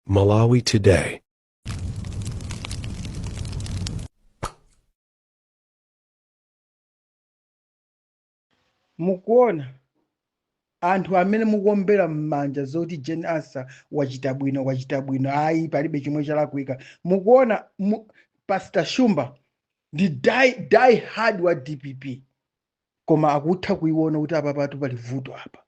Malawi Today. mukuona anthu amene mukuombera m'manja zoti Jane Ansah wachita bwino wachita bwino ayi palibe chimwe chalakwika mukuona mu, pastor shumba ndi die, die hard wa dpp koma akutha kuiona kuti apa patu pali vuto apa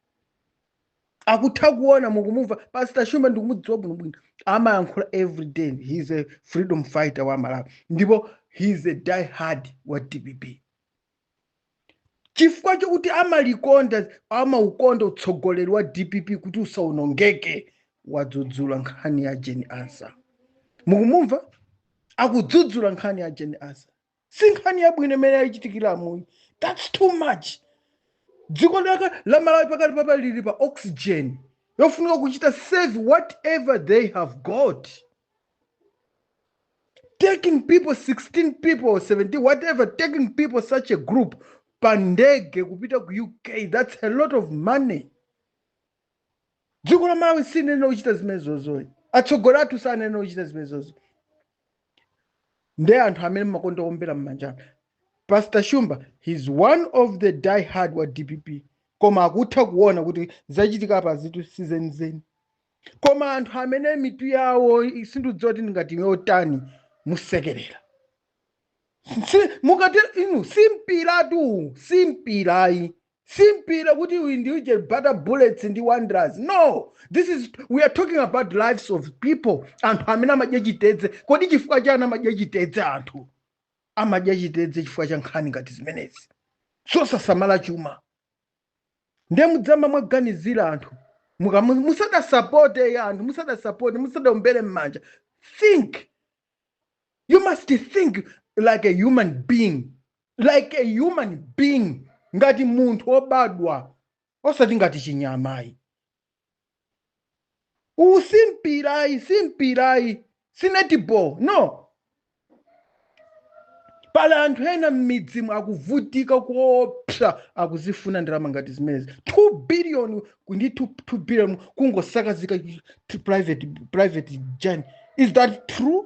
akutha kuona mukumumva pastor shumba ndikumudziwa bwino bwino amayankhula every day he is a freedom fighter wa malawi ndipo he is a die hard wa dpp chifukwa chokuti amalikonda amaukonda utsogoleri wa dpp kuti usaonongeke wadzudzula nkhani ya Jane Ansah mukumumva akudzudzula nkhani ya Jane Ansah si nkhani yabwino imene yachitikira umuyi that's too much dziko lake la malawi pakadali pano lili pa oxygen yofunika kuchita save whatever they have got taking people 16 people 17 whatever taking people such a group pandege kupita ku uk that's a lot of money dziko la malawi siliyenera kuchita zimenezozo ayi atsogoleri athu sayenera kuchita zimenezozo ayi nde anthu amene mmakonda kuombera mmanja pastor shumba he's one of the die hard wa dpp koma akutha kuona kuti zachitika apa zinthu sizenizeni koma anthu amene mitu yawo sindidziwa kuti ngati yotani musekerera Si- mukati inu si mpiratu si mpira ayi si mpira kuti uyu ndi uje bata bullets ndi wanderers no this is we are talking about lives of people anthu amene amadya chitedze kodi chifukwa chani amadya chitedze anthu amadya chitedze chifukwa cha nkhani ngati zimenezi zosasamala chuma ndiye mudziyamba mwaganizira anthu Muka- mu- musadasapote anthu musadasapote musadaombere m'manja think you must think like a human being like a human being ngati munthu obadwa osati ngati chinyama ayi uwu si mpira ayi si mpira ayi si netball no pali anthu ena m'midzimu akuvutika koopsa akuzifuna ndalama ngati zimenezi 2 billion ku- ndi 2, 2 billion kungosakazika chi- chi- private private jet is that true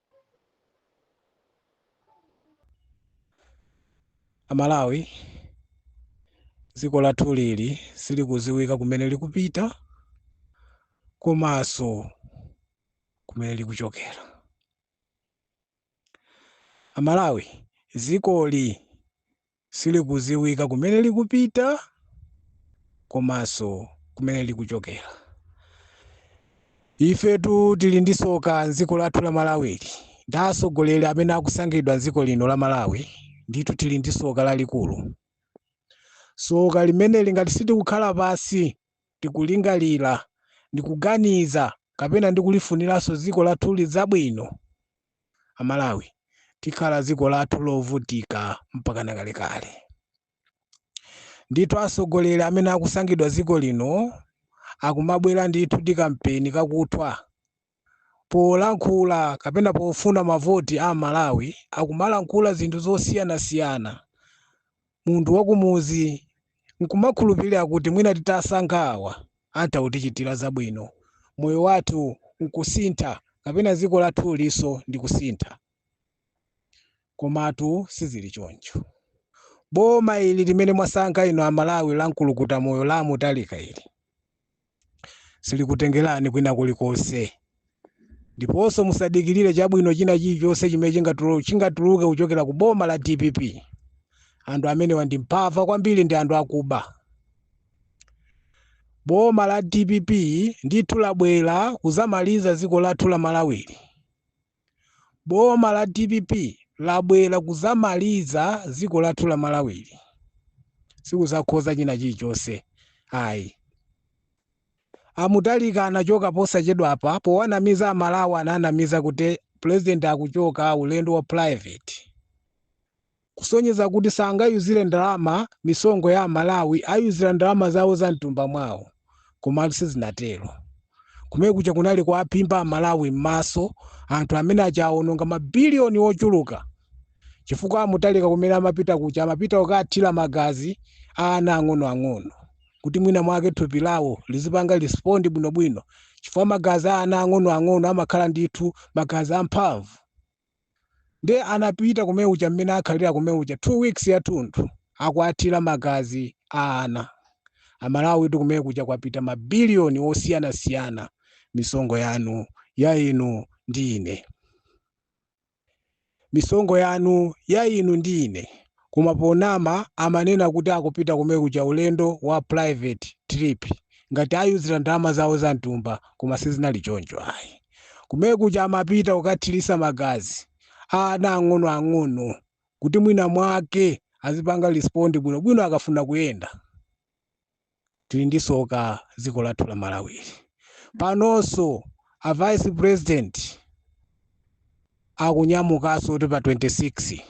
Amalawi, dziko lathu lili silikudziwika kumene likupita komanso kumene likuchokera. Amalawi, dzikoli silikudziwika kumene likupita komanso kumene likuchokera. Ifetu tili ndi tsoka m'dziko lathu la Malawili ndi atsogoleri amene akusankhidwa m'dziko lino la Malawi, ndithu tili ndi tsoka lalikulu. Tsoka limeneli ngati sitikukhala pansi ndi kulingalira ndi kuganiza kapena ndi kulifuniranso dziko lathuli zabwino, amalawi tikhala dziko lathu lovutika mpakana kalekale. Ndithu atsogoleri amene akusankhidwa dziko lino akumabwera ndithu ndi kampeni kakuthwa. Polankhula kapena pofuna mavoti a amalawi akumalankhula zinthu zosiyanasiyana munthu wakumuzi nkumakhulupilira kuti mwina titasankha awa atha kutichitira zabwino, moyo wathu nkusintha kapena dziko lathulinso ndi kusintha. Komatu sizili choncho. Boma ili limene mwasankha inu a Malawi la mkulukuta moyo la a Mutharika ili, silikutengerani kwina kulikonse ndiponso musadikirire chabwino china chilichonse chimene chingatuluke kuchokera ku boma la dpp anthu amenewa ndi mbava kwambiri ndi anthu akuba boma la dpp ndithu labwera kuzamaliza dziko lathu la malawili Boma la dpp labwera kuzamaliza dziko lathu la Malawili. Sikuzakonza china chilichonse ayi. A Mutharika anachoka posachedwa apa powanamiza Amalawi ananamiza kuti president akuchoka ulendo wa private. kusonyeza kuti sangayuzire ndalama misonkho ya amalawi ayuzira ndalama zawo za mtumba mwawo komatu sizinatero kumene kuja kunali kuaphimba amalawi m'maso anthu amene aja awononga mabiliyoni ochuluka chifukwa a Mutharika kumene amapita kuja amapita kukathira magazi a ana ang'onoang'ono kuti mwina mwake thupi lawo lizipanga respond bwinobwino chifukwa magazi a ana ang'onoang'ono amakhala ndithu magazi amphamvu Ndiye anapita kumene kuja mmene akhalira kumene kuja 2 weeks yathunthu akuwathira magazi a ana. Amalawitu kumene kuja kwapita ma billion osiyanasiyana misonkho yanu ya inu ndi ine. Misonkho yanu ya inu ndi ine. koma ponama amanena kuti akupita kumene kuja ulendo wa private trip ngati ayuzira ndalama zawo za mtumba koma sizinali choncho ayi kumene kuja amapita kukathirisa magazi a ana ang'ono ang'ono kuti mwina mwake azipanga respond bwino bwino akafuna kuyenda tili ndi soka ziko lathu la malawili panoso a vice president akunyamukaso kuti pa 26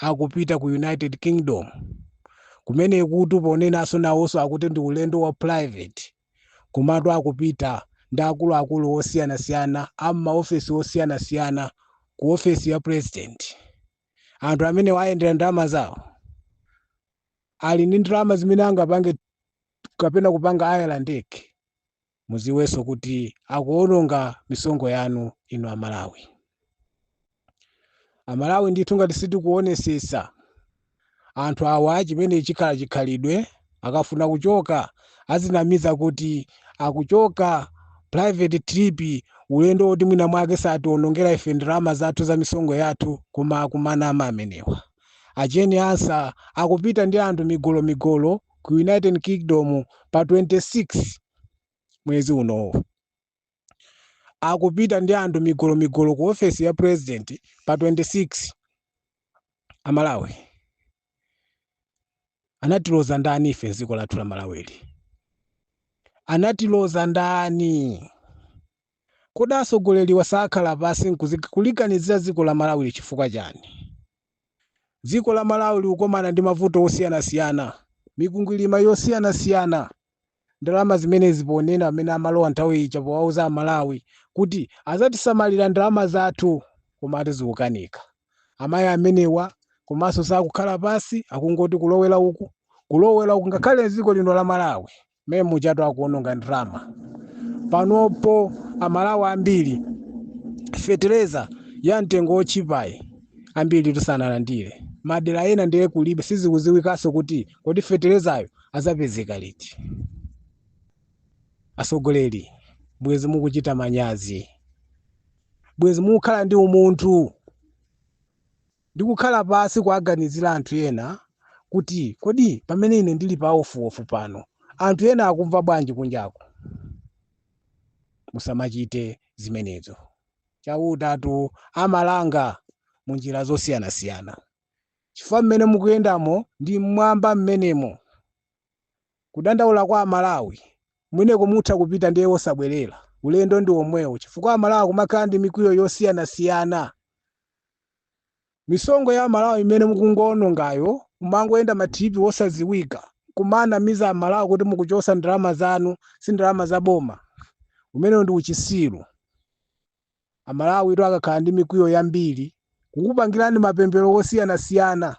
akupita ku united kingdom kumene kuti ponenaso nawoso akuti ndi ulendo wa private komatu akupita ndi akuluakulu osiyanasiyana ammaofesi osiyanasiyana ku ofesi ya president anthu amene oyendera ndalama zawo ali ndi ndalama zimene angapange kapena kupanga haya ndege muziwenso kuti akuononga misonkho yanu inu amalawi amalawi ndithu ngati sitikuonesesa anthu awa chimene chikhala chikhalidwe akafuna kuchoka azinamiza kuti akuchoka private trip ulendo woti mwina mwake sationongera ife ndalama zathu za misonkho yathu koma akumanama amenewa A Jane Ansah akupita ndi anthu migolomigolo ku United Kingdom pa 26 mwezi unowu. Akupita ndi anthu migolomigolo ku ofesi ya president pa 26 a Malawi. Anatiloza ndani ife dziko lathu la Malawili? Anatiloza ndani? Kodi asogoleliwa sakhala pasi nkuliganizila ziko la Malawili chifukwa chani? Ziko la Malawi likukomana ndi mavuto osiyana siyana, mikwingwilima yosiyana siyana, ndalama zimenezi ponena pamene amalowa nthawi ija powauza a Malawi kuti azatisamalila ndalama zathu komatu zikukanika. Amai amenewa komanso sakukhala pasi akungoti kulowela uku kulowela uku ngakhale dziko lino la Malawi. mmene mujatu akuononga ndalama panopo amalawi ambiri fetereza ya mtengo wotchipayi ambiri tisanalandire madera ena ndiye kulibe sizikuziwikanso kuti kodi feterezayo azapezeka liti asogoleri bwezi mukuchita manyazi bwezi mukukhala ndi umunthu ndi kukhala pansi kuwaganizira anthu ena kuti kodi pamene ine ndili pa ofuofu pano anthu ena akumva bwanji kunjaku musamachite zimenezo chautatu amalanga mu njira zosiyanasiyana chifukwa mmene mukuyendamo ndi mmwamba mmenemo kudandaula kwa amalawi kumeneko mutha kupita ndiye osabwerera ulendo ndi omwewo chifukwa amalawi kumakhala ndi mikwiyo yosiyanasiyana Misonkho ya Amalawi imene mukungoonongayo mumangoyenda ma trip wosaziwika nkumanamiza Amalawi kuti mukuchosa ndalama zanu si ndalama za boma. Umenewo ndi uchisiru. Amalawitu akakhala ndi mikwiyo yambiri kukupangirani mapemphero wosiyanasiyana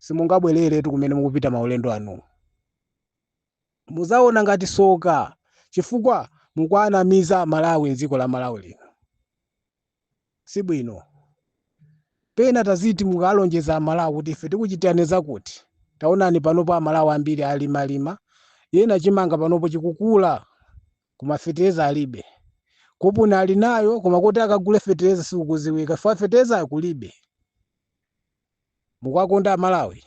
simungabwereretu kumene mukupita maulendo anuwo. Muzaona ngati soka chifukwa mukuanamiza Amalawi mdziko la Malawi lino. si bwino. Pena taziti mukalonjeza aMalawi kuti ife tikuchitirani zakuti. Taonani panopo aMalawi ambiri alimalima, ena chimanga panopo chikukula koma fetereza alibe. Koponi ali nayo koma kuti akagule fetereza sikukuziwika chifukwa feterezayo kulibe. mukwakonda amalawi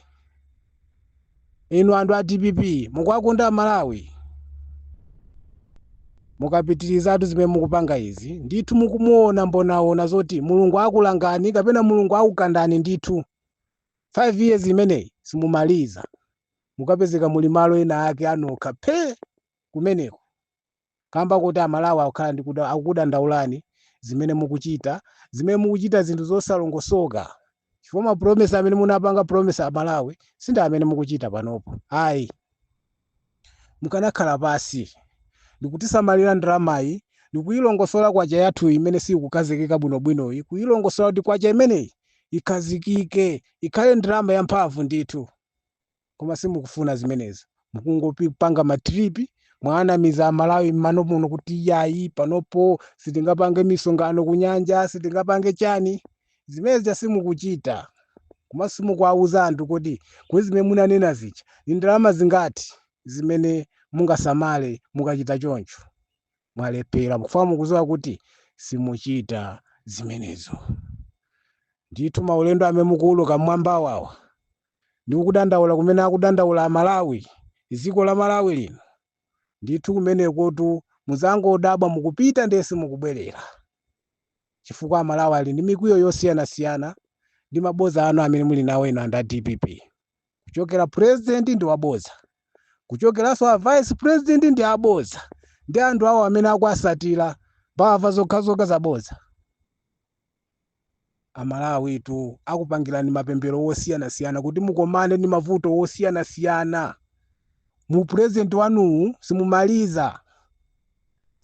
inu anthu a dpp mukwakonda amalawi mukapitirizatu zimene mukupanga izi ndithu mukumuona Mbonaona zoti mulungu akulangani kapena mulungu akukandani ndithu 5 years imeneyi simumaliza mukapezeka muli malo ena ake anokha phe kumeneko kamba kuti amalawi akukhala ndi kuda- akukudandaulani zimene mukuchita zimene mukuchita zinthu zosalongosoka chifukwa ma promise amene munapanga promise amalawi si ndi amene mukuchita panopo ayi mukanakhala pasi ndikutisamalira ndalamayi ndikuyilongosola kwacha yathu imene siyikukhazikika bwinobwinoyi kuyilongosola kuti kwacha imeneyi ikhazikike ikhale ndalama yamphamvu ndithu koma simukufuna zimenezo mukungopanga matripi mwanamiza amalawi mmano muno kuti yayi panopo sitingapange misonkhano kunyanja sitingapange chani zimezi simukuchita koma simukuwauza anthu kuti kodi zimene munanena zija ndi ndalama zingati zimene mungasamale mukachita choncho mwalephera mukufuna mukuziwa kuti simuchita zimenezo ndithu maulendo amene mukuuluka mmwambawawa Ndi kudandaula kumene akudandaula amalawi dziko la malawi lino ndithu kumenekotu muzangodabwa mukupita ndiye simukubwelera chifukwa amalawi ali ndi mikwiyo yosiyanasiyana ndi maboza anu amene muli nawo inu anthu a dpp kuchokera president ndi waboza kuchokeranso a vice president ndi aboza ndi anthu awo amene akuwasatira mbava zokhazokha zaboza Amalawitu akupangirani mapemphero wosiyanasiyana kuti mukomane ndi mavuto wosiyanasiyana mu upresident wanuwu simumaliza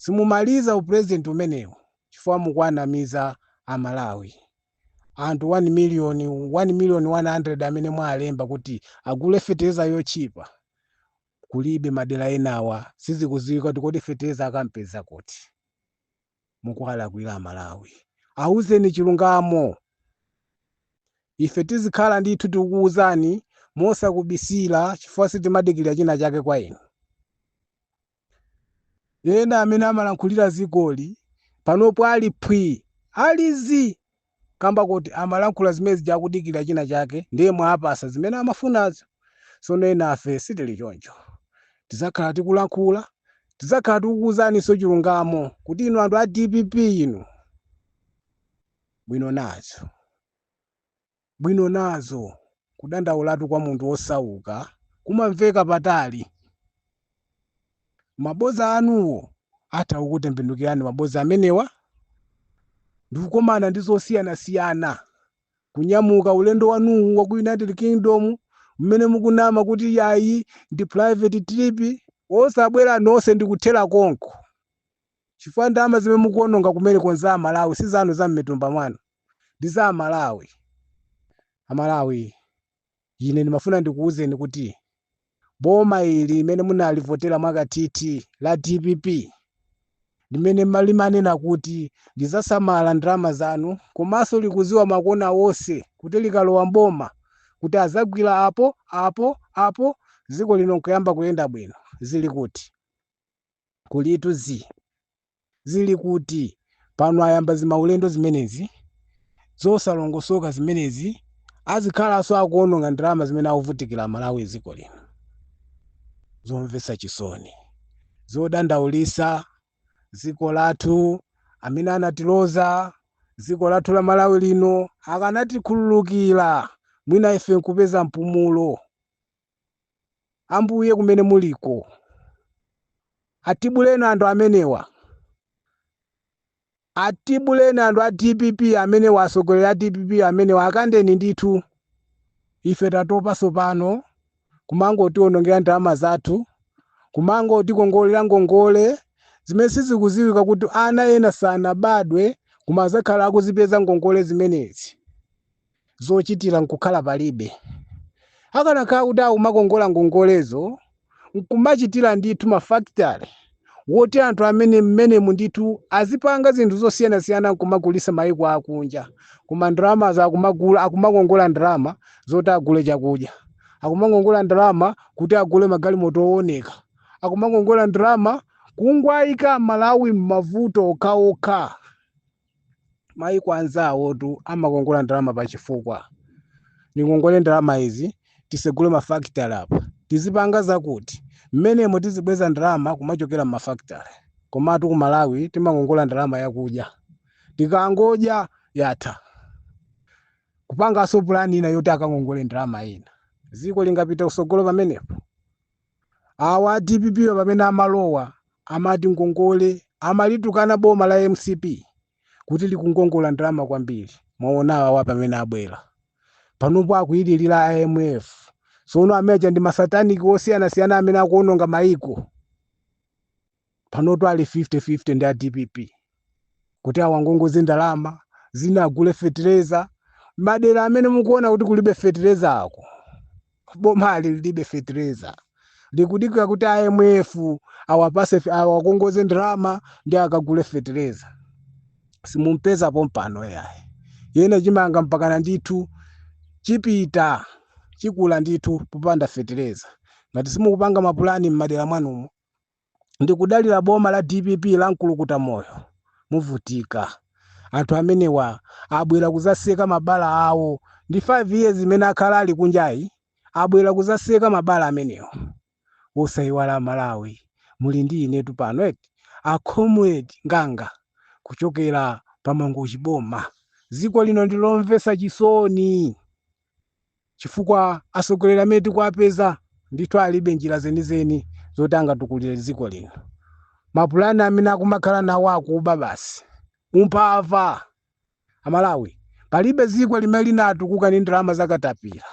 simumaliza upresident umenewu chifukwa mukuwanamiza amalawi anthu 1 million 1 million 100 amene mwalemba kuti agule feteleza yochipa kulibe madera enawa sizikuziwika kuti kodi feteleza akampeza kuti mukuwalakwira amalawi awuzeni chilungamo ife tizikhala ndithu tikuwuzani mosakubisira chifukwa sitimadikirira china chake kwa inu ena amene amalankhulira zigoli panopo ali phwi ali zii kamba kuti amalankhula zimene zija akudikilira china chake ndiye mwawapasa zimene amafunazo sono enafe sitili choncho tizakhala tikulankhula tizakhala tikukuuzaninso chilungamo kuti inu anthu a dpp inu bwino nazo bwino nazo kudandaulatu kwa munthu wosauka kumamveka patali maboza anuwo atha kukutembenukirani maboza amenewa ndikukomana ndi zosiyanasiyana kunyamuka ulendo wanuwu wa ku united kingdom mmene mukunama kuti yayi ndi private trip osabwera nonse ndikuthera konko chifukwa ndalama zimene mukuononga kumeneko za amalawi si zanu za mmatumba mwanu ndi za amalawi amalawi ine ndimafuna ndikuwuzeni kuti boma ili limene munalivotera mwakathithi la dpp limene limanena kuti lizasamala ndalama zanu komanso likuziwa makona wonse kuti likalowa mboma kuti azagwira apo apo apo dziko lino nkuyamba kuyenda bwino zili kuti kulitu zi zili kuti? pano ayamba zimaulendo zimenezi zosalongosoka zimenezi azikhalanso akuononga ndalama zimene akuvutikira amalawi dziko lino zomvetsa chisoni zodandaulisa dziko lathu amene anatiloza dziko lathu la malawi lino akanatikhululukira mwina ife nkupeza mpumulo. Ambuye kumene muliko, atibuleni anthu amenewa, atibuleni anthu a dpp amenewa, atsogoleri a dpp amenewa, akandeni ndithu. Ife tatopa sopano kumangotiwonongera ndalama zathu, kumangotikongolera ngongole zimene sizikuziwika kuti ana ena sanabadwe koma azakhala akuzipeza ngongole zimenezi. zochitira nkukhala palibe akanakhala kuti akumakongola ngongolezo nkumachitira ndithu mafactory woti anthu amene mmenemu ndithu azipanga zinthu zosiyanasiyana nkumagulisa mayiko akunja koma ndalamazo akumagula akumakongola ndalama zoti agule chakudya akumakongola ndalama kuti agule magalimoto owoneka akumakongola ndalama kungowaika amalawi m'mavuto okhaokha maiko anzawotu amakongola ndalama pachifukwa ndikongole ndalama izi tisegule mafakitale apa tizipanga zakuti mmenemo tizibweza ndalama kumachokera mmafakitale komatu ku malawi timakongola ndalama yakudya tikangodya yatha kupanganso pulani ina yoti akangongole ndalama ina dziko lingapita kusogolo pamenepo Awa a dpp wa pamene amalowa amati ngongole amalitukana boma la mcp kuti likungongola ndalama kwambiri mwaona awa awa pamene abwera panopo akuyilirira IMF sono IMF ndi masataniki osiyanasiyana amene akuononga maiko panotu ali 50-50 ndi a dpp kuti awangongoze ndalama zina agule fetereza madera amene mukuona kuti kulibe fetereza awo boma ali lilibe fetereza likudikira kuti imf awapatse fe- awakongoze ndalama ndiye akagule fetereza simumpeza pompano yayi ndiye chimanga mpakana ndithu chipita chikula ndithu popanda fetereza ngati simukupanga mapulani m'madera mwanumo ndikudalira boma la dpp la mkulukuta moyo muvutika anthu amenewa abwera kuzatseka mabala awo ndi 5 years imene akhala ali kunjayi abwera kuzatseka mabala amenewo osayiwala amalawi muli ndi inetu pano eti a comrade nganga kuchokera pamangochi boma dziko lino ndilomvetsa chisoni chifukwa atsogoleri amene tikuwapeza ndithu alibe njira zenizeni zoti angatukulire dziko lino mapulani amene akumakhala nawo akuba basi umphawi amalawi palibe dziko limene linatukuka ndi ndalama zakatapira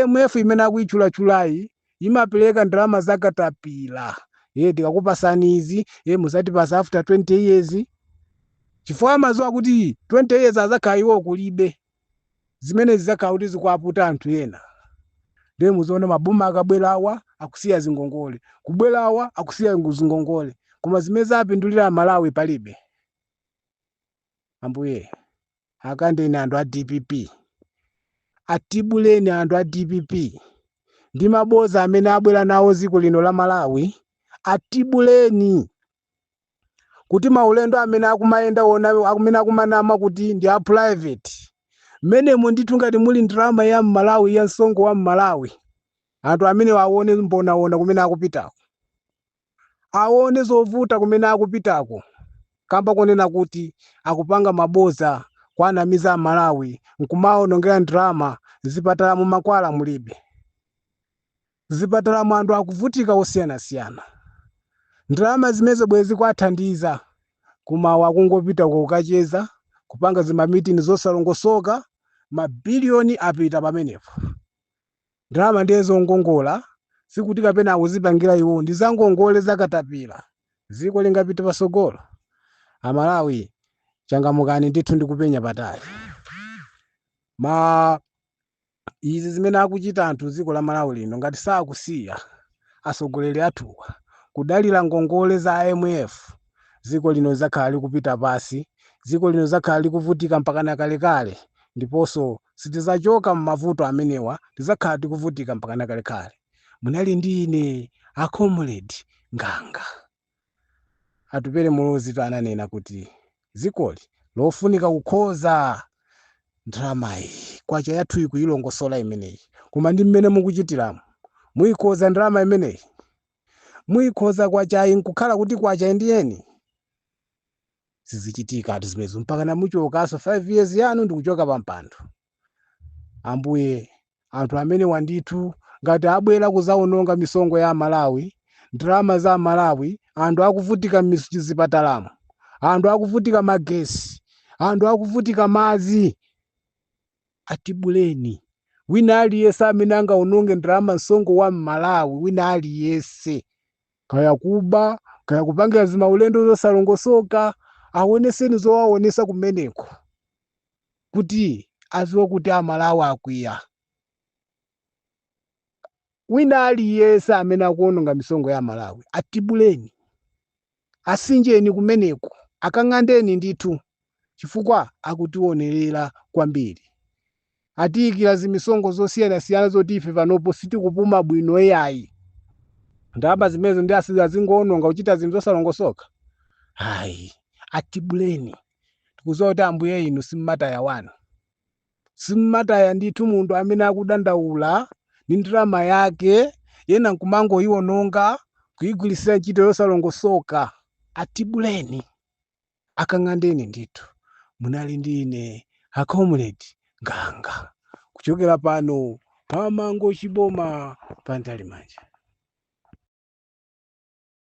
imf imene akuyitchulachulayi imapereka ndalama zakatapira ye tikakupasani izi ye muzatipatsa after 20 years chifukwa amadziwa kuti 20 years azakhala iwo kulibe zimenezi zizakhala kuti zikuwaputa anthu ena ndiye muziona maboma akabwerawa akusiya zingongole kubwerawa akusiya ngu- zingongole koma zimene zapindulira amalawi palibe ambuye akantheni anthu a dpp atibuleni anthu a dpp ndi maboza amene abwera nawo dziko lino la malawi atibuleni kuti maulendo amene akumayenda wona amene akumanama kuti ndi a private mmenemo ndithu ngati muli ndalama ya mmalawi ya msonkho wa mmalawi anthu amenewa aone mbonawona kumene akupitako aone zovuta kumene akupitako kamba konena kuti akupanga maboza kuwanamiza a malawi nkumawaonongera ndalama zipatalamu mankhwala mulibe M'zipatalamu anthu akuvutika osiyanasiyana. Ndalama zimenezo bwezi kuwathandiza koma awa akungopita uko kukacheza, kupanga zimamitini zosalongosoka, mabiliyoni apita pamenepo. Ndalama ndiye zongongola, sikuti kapena akuzipangira iwowo, ndi zangongole za katapila. Dziko lingapite patsogolo? Amalawi, changamukani ndithu ndi kupenya patali. izi zimene akuchita anthu dziko la malawi lino ngati sakusiya atsogoleri athuwa kudalira ngongole za imf dziko lino lidzakhala likupita pansi dziko lino lidzakhala likuvutika mpakana kalekale ndiponso sitidzachoka m'mavuto amenewa tidzakhala tikuvutika mpakana kalekale munali ndine a comrade ntanyiwa Atupele Muluzitu ananena kuti dzikoli lofunika kukonza ndalamayi. Kwacha yathuyi kuyilongosola imeneyi. Koma ndi mmene mukuchitiramu muyikonza ndalama imeneyi? Muyikonza kwachayi nkukhala kuti kwacha yeniyeni? Sizichitikatu zimenezo mpakana muchokanso 5 years yanu ndikuchoka pampando. ambuye anthu amenewa ndithu ngati abwera kuzaononga misonkho ya malawi ndalama za malawi anthu akuvutika mzipatalamu anthu akuvutika magetsi anthu akuvutika madzi atibuleni wina aliyese amene angaononge ndalama msonkho wa mmalawi wina aliyese kaya kuba kaya kupangira zimaulendo zosalongosoka aonetseni zowaonetsa kumeneko kuti aziwe kuti amalawi akwiya wina aliyense amene akuononga misonkho ya amalawi atibuleni asinjeni kumeneko akang'andeni ndithu chifukwa akutionjezera kwambiri atiyikira zimisonkho zosiyanasiyana zoti ife panopo sitikupuma bwino yayi ndalama zimenezo ndi asi- azingoononga kuchita zinthu zosalongosoka ayi atibuleni tikudziwa kuti ambuye inu simumataya wanu simumataya ndithu munthu amene akudandaula ndi ndalama yake ena nkumangoyiwononga kuyigwirisira ntchito yosalongosoka atibuleni akang'andeni ndithu munali ndi ine a comrade nganga kuchokera pano pa mangochi boma pa ntalimanja